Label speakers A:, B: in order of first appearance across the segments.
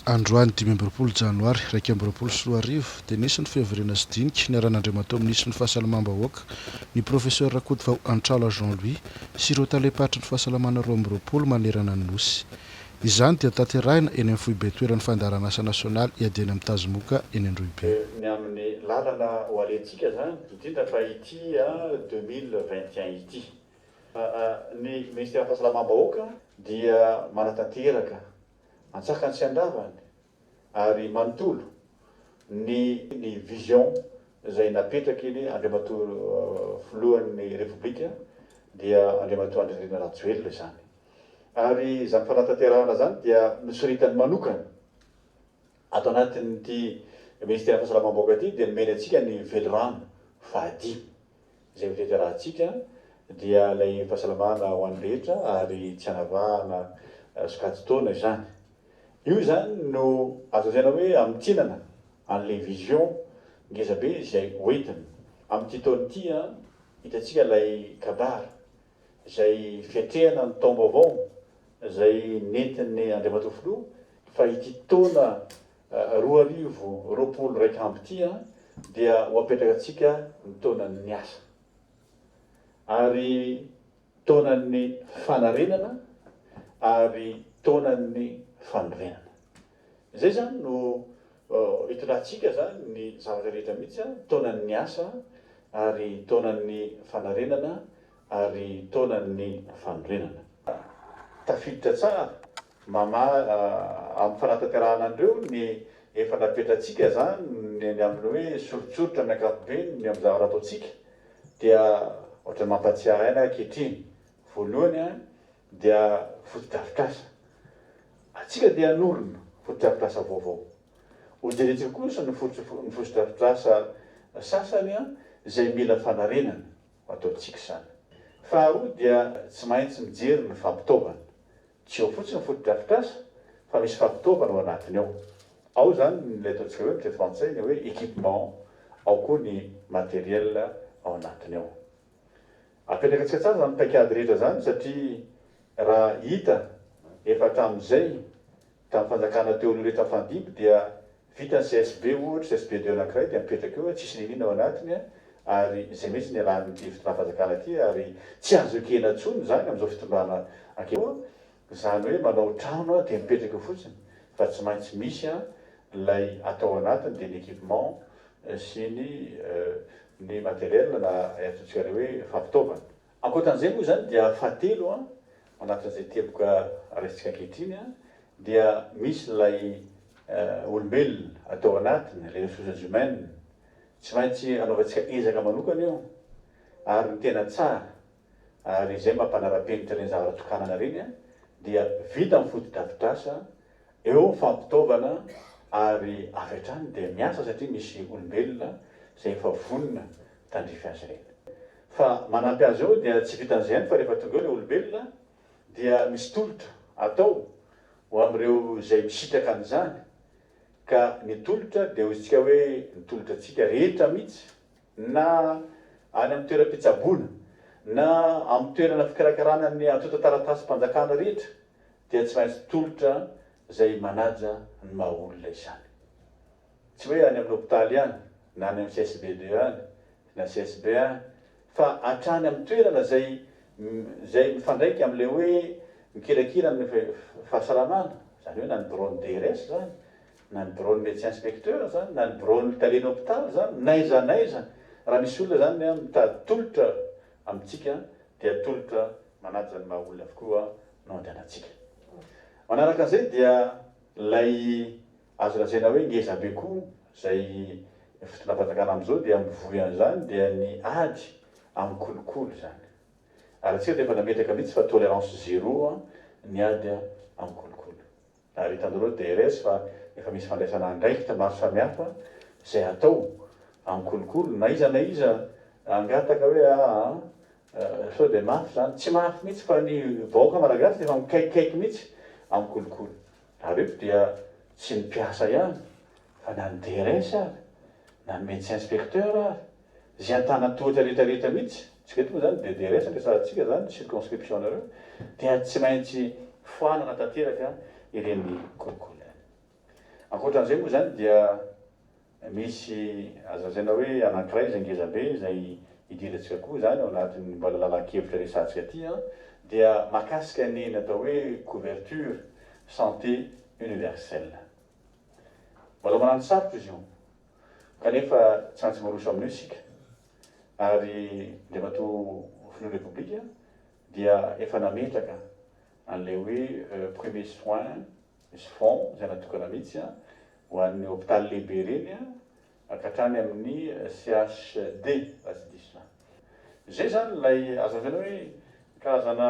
A: Androany dimy amby roapolo janoary iraika amby roapolo sy roa arivo dia nisy ny fihavirana sy dinika niaran'Andriamatoa Minisitry ny Fahasalamam-bahoaka, ny Professeur Rakotovao Antrala Jean Louis sy ireo Talem-paritry ny Fahasalamana roa amby roapolo manerana ny Nosy. Izany dia tanterahina eny amin'ny Foibe Toeran'ny Fandaharanasa Nasionaly Iadiana amin'ny Tazomoka eny Androhibe. ny amin'ny
B: lalana ho alehantsika izany, indrindra fa ity deux mille vingt et un ity. Ny Ministeran'ny Fahasalamam-bahoaka dia manatanteraka antsakany sy andavany ary manontolo ny ny vision izay napetrakiny Andriamatoa Filohan'ny Repoblika dia Andriamatoa Andrinirina Rajoelina izany. Ary izany fanatanterahana izany dia nosoritany manokana ato anatin'ity Ministeran'ny Fahasalamam-bahoaka ity dia nomeny antsika ny velirano fahadimy. Izay ho tety arahintsika dia ilay fahasalamana ho an'ny rehetra ary tsy hanavahana sokajin-taona izany. Io izany no azo lazaina hoe hamintinana an'ilay vision ngeza be izay ho entina. Amin'ity taona ity, hitantsika ilay kabary izay fiatrehana ny taom-baovao izay nentin'ny Andriamatoa Filoha fa ity taona Roa arivo roapolo raika amby ity an dia ho apetraka antsika ny taonan'ny asa ary taonan'ny fanarenana ary taonan'ny fanorenana izay izany no hitondrantsika izany ny zavatra rehetra mihitsy an taonan'ny asa ary taonan'ny fanarenana ary taonan'ny fanorenana tafiditra tsara Mama amin'ny fanatanterahana an'ireo ny efa nampetrantsika izany ny eny amin'ny hoe soritsoritra amin'ny ankapobeny ny amin'ny zavatra ataontsika dia ohatran'ny mampahatsiahy aina ankehitriny voalohany dia fotodrafitrasa antsika dia hanorina fotodrafitrasa vaovao hojerentsika kosa ny fotodrafitrasa sasany izay mila fanarenana ho ataontsika izany faharoa dia tsy maintsy mijery ny fampitaovana Tsy eo fotsiny ny fotodrafitrasa fa misy fampitaovana ao anatiny ao. Ao izany ilay ataontsika hoe amintsika frantsay ny hoe equipement, ao koa ny matériel ao anatiny ao. Apetrakantsika tsara izany paikady rehetra izany satria raha hita efa hatramin'izay tamin'ny fanjakana teo aloha rehetra nifandimby dia Vitan'ny CSB ohatra, CSB deux anankiray dia mipetraka eo, tsisy na inona ao anatiny, ary izay mihitsy no iarahan'ity fitondram-panjakana ity, ary tsy azo ekena intsony izany amin'izao fitondrana ankeo, izany hoe manao trano dia mipetraka eo fotsiny, fa tsy maintsy misy ilay atao ao anatiny dia ny équipement sy ny ny matériel na ny antsointsika an'io hoe fampitaovana. Ankoatran'izay moa izany dia fahatelo an, anatin'izay teboka raisintsika ankehitriny an, dia misy ilay olombelona atao anatiny, les ressources humaines. Tsy maintsy anaovantsika ezaka manokana io ary ny tena tsara ary izay maha mpanara-penitra ireny zavatra tokanana ireny an, dia vita ny fotodrafitrasa Eo fampitaovana ary avy hatrany dia miasa satria misy olombelona izay efa vonona tandrify azy ireny. Fa manampy azy eo dia tsy vitan'izay ihany fa rehefa tonga eo ilay olombelona dia misy tolotra atao ho amin'ireo izay misitraka an'izany ka ny tolotra dia hoizitsika hoe ny tolotratsika rehetra mihitsy na any amin'ny toeram-pitsaboana na amin'ny toerana fikarakarana ny antontan-taratasim-panjakana rehetra dia tsy maintsy tolotra izay manaja ny maha olona izany. Tsy hoe any amin'ny hopitaly ihany, na any amin'ny CSB deux any, na CSB un any, fa hatrany amin'ny toerana izay izay mifandraika amin'ilay hoe mikirakira ny fahasalamana, izany hoe na ny biraon'ny DRS izany, na ny biraon'ny médecin inspecteur izany, na ny biraon'ny talen'ny hopitaly izany, n'aiza n'aiza, raha misy olona izany mitady tolotra amintsika dia atolotra manaja ny maha olona avokoa no andehanantsika. Manaraka an'izay dia ilay azo lazaina hoe ngeza be koa izay fitondram-panjakana amin'izao dia mivoy an'izany dia ny ady amin'ny kolikoly izany. Ary antsika dia efa nametraka mihitsy fa tolerance zero ny ady amin'ny kolikoly. Ary hitanareo DRS fa efa misy fandraisana andraikitra maro samihafa izay atao amin'ny kolikoly. Na iza na iza hangataka hoe aa sao dia mafy izany. Tsy mafy mihitsy fa ny vahoaka malagasy dia efa mikaikikaiky mihitsy amin'ny kolikoly. Ary eto dia tsy ny mpiasa ihany fa na ny DRS ary, na ny medecin inspecteur ary, Zay antanatohatra rehetra rehetra mitsy, tsika eto moa zany dia dia resaka sa tsika zany circonscription nareo dia tsy maintsy foanana tanteraka ireny kolikoly ireny. Ankoatran'izay moa zany dia misy azo lazaina hoe anankiray izay ngeza be izay idirantsika koa zany ao anatin'ny mbola lalan-kevitra resahantsika aty an, dia makasika ny ny atao hoe couverture santé universelle. Mbola manano sarotra izy io. Kanefa tsy antsy miroso amin'io isika, ary Andriamatoa Filohan'ny Repoblika dia efa nametraka an'ilay hoe premier soin, misy fonds izay natokana mihitsy ho an'ny hopitaly lehibe ireny ka hatrany amin'ny CHD raha tsy diso aho. Izay izany ilay azo lazaina hoe karazana.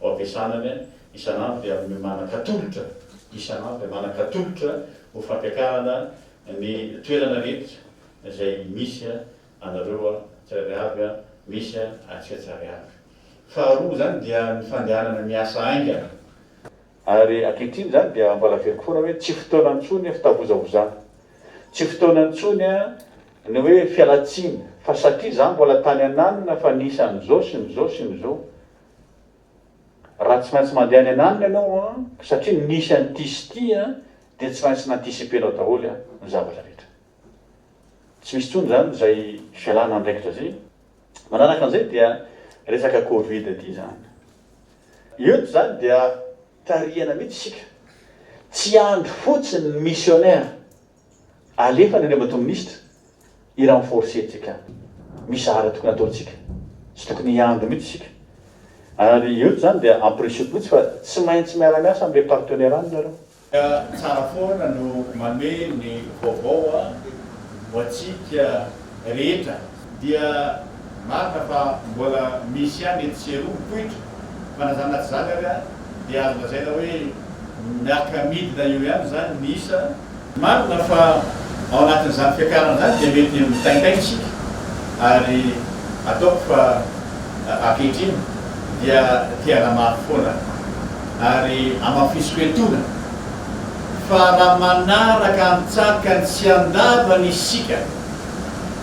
B: Ho ampiasana ny isan'andro dia amin'ny manan-katolotra isan'andro dia manan-katolotra ho fampiakarana ny toerana rehetra izay misy anareo tsirairay avy, misy antsika tsirairay avy. Faharoa izany dia ny fandehanana miasa haingana. Ary ankehitriny izany dia mbola averiko foana hoe tsy fotoana intsony fitavozavozana, tsy fotoana intsony ny hoe fialan-tsiny fa satria izaho mbola tany ananona fa ny isan'izao sy ny izao sy ny izao Raha tsy maintsy mandeha any an'alina ianao an, satria nisy an'ity sy ity an, dia tsy maintsy nanticiper-nao daholo an, ny zavatra rehetra. Tsy misy intsony izany izay fialana andraikitra izay. Manaraka an'izay dia resaka covid ity izany. Eto izany dia tarihana mihitsy isika. Tsy andry fotsiny ny missionnaire Alefany anie matoa minisitra i renforcer tsika mizara tokony ataontsika tsy tokony hiandry mitsy isika ary eto zany dia ampirisioko mitsy fa tsy maintsy miara miasa amle partenaire any nareo. Tsara foana no manome ny vaovao ho antsika rehetra. Dia marina fa mbola misy ihany etsy sy eroa mipoitra fa na zany na tsy zany ary dia azo lazaina hoe miarka midina eo ihany izany ny isa. Marina fa ao anatin'izany fiakarana izany dia mety mitaintaina isika ary ataoko fa ankehitriny dia te hanamafy foana ary amafisiko etona fa raha manaraka antsakany sy andavany isika,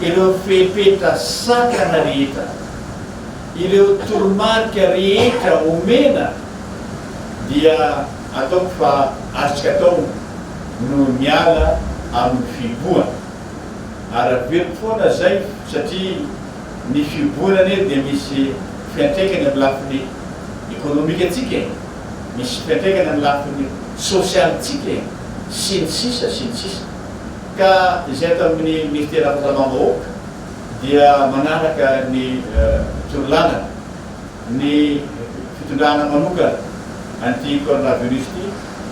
B: ireo fepetra sakana rehetra, ireo toromarika rehetra omena dia ataoko fa azontsika atao no miala amin'ny fihibohana. Ara-beloko foana izay satria ny fihibohana anie dia misy fiantraikany amin'ny lafiny ekonomikantsika e, misy fiantraikany amin'ny lafiny sosialintsika e, sy ny sisa sy ny sisa. Ka izay ato amin'ny Minisitera Fahasalamam-bahoaka dia manaraka ny torolalana ny fitondrana manokana an'ity coronavirus ity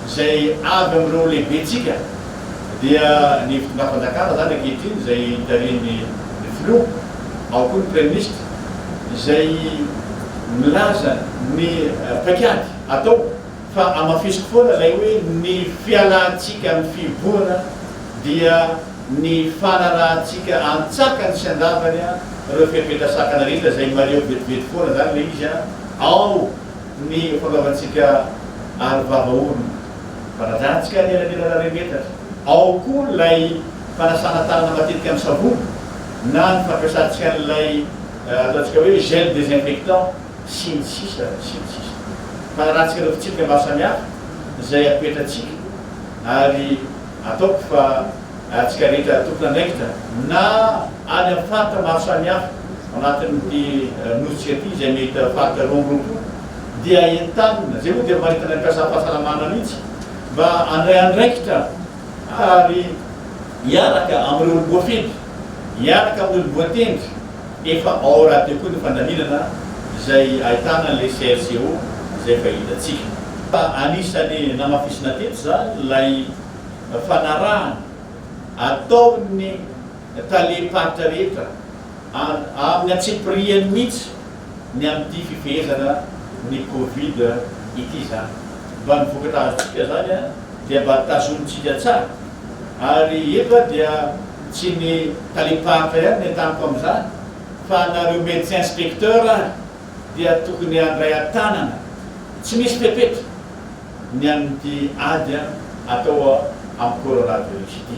B: izay avy amin'ireo lehibentsika dia ny fitondram-panjakana izany ankehitriny izay tarihin'ny ny Filoha ao koa ny Praiminisitra izay milaza ny paikady atao Fa hamafisiko foana ilay hoe ny fialantsika amin'ny fihibohana dia ny fanarahantsika antsakany sy andavany ireo fepetra sakana rehetra izay mahaleo vetivety foana izany ilay izy ao ny fanaovantsika aro vava orona, fanajantsika ny elanelana remetatra, ao koa ilay fanasana tanana matetika amin'ny savony na ny fampiasantsika an'ilay ataontsika hoe gel désinfectant. sy ny sisa sy ny sisa. Fanarantsika ireo fitsipika maro samihafa izay apetratsika ary ataoko fa antsika rehetra tompon'andraikitra na any amin'ny faritra maro samihafa anatin'ity nosintsika ity izay mety faritra roa amby roapolo dia entanina, izay moa dia maritana ny mpiasam-pahasalamana mihitsy mba handray andraikitra ary hiaraka amin'ireo voafetra. Miaraka amin'ny lohatendry efa ao radio koa ny fandaminana izay ahitana ilay CLCO izay efa hitantsika. Anisan'ny namafisina teto izany ilay fanarahana ataon'ny talem-paritra rehetra amin'ny antsipirihany mihitsy ny amin'ity fifehezana ny covid ity izany. Mba ny vokatra azontsika izany dia mba tazonintsika tsara. Ary efa dia tsy ny talim-paritra ihany ny entaniko amin'izany fa anareo médecin inspecteur ary dia tokony handray an-tanana tsy misy fepetra ny amin'ity ady atao amin'ny coronavirus ity.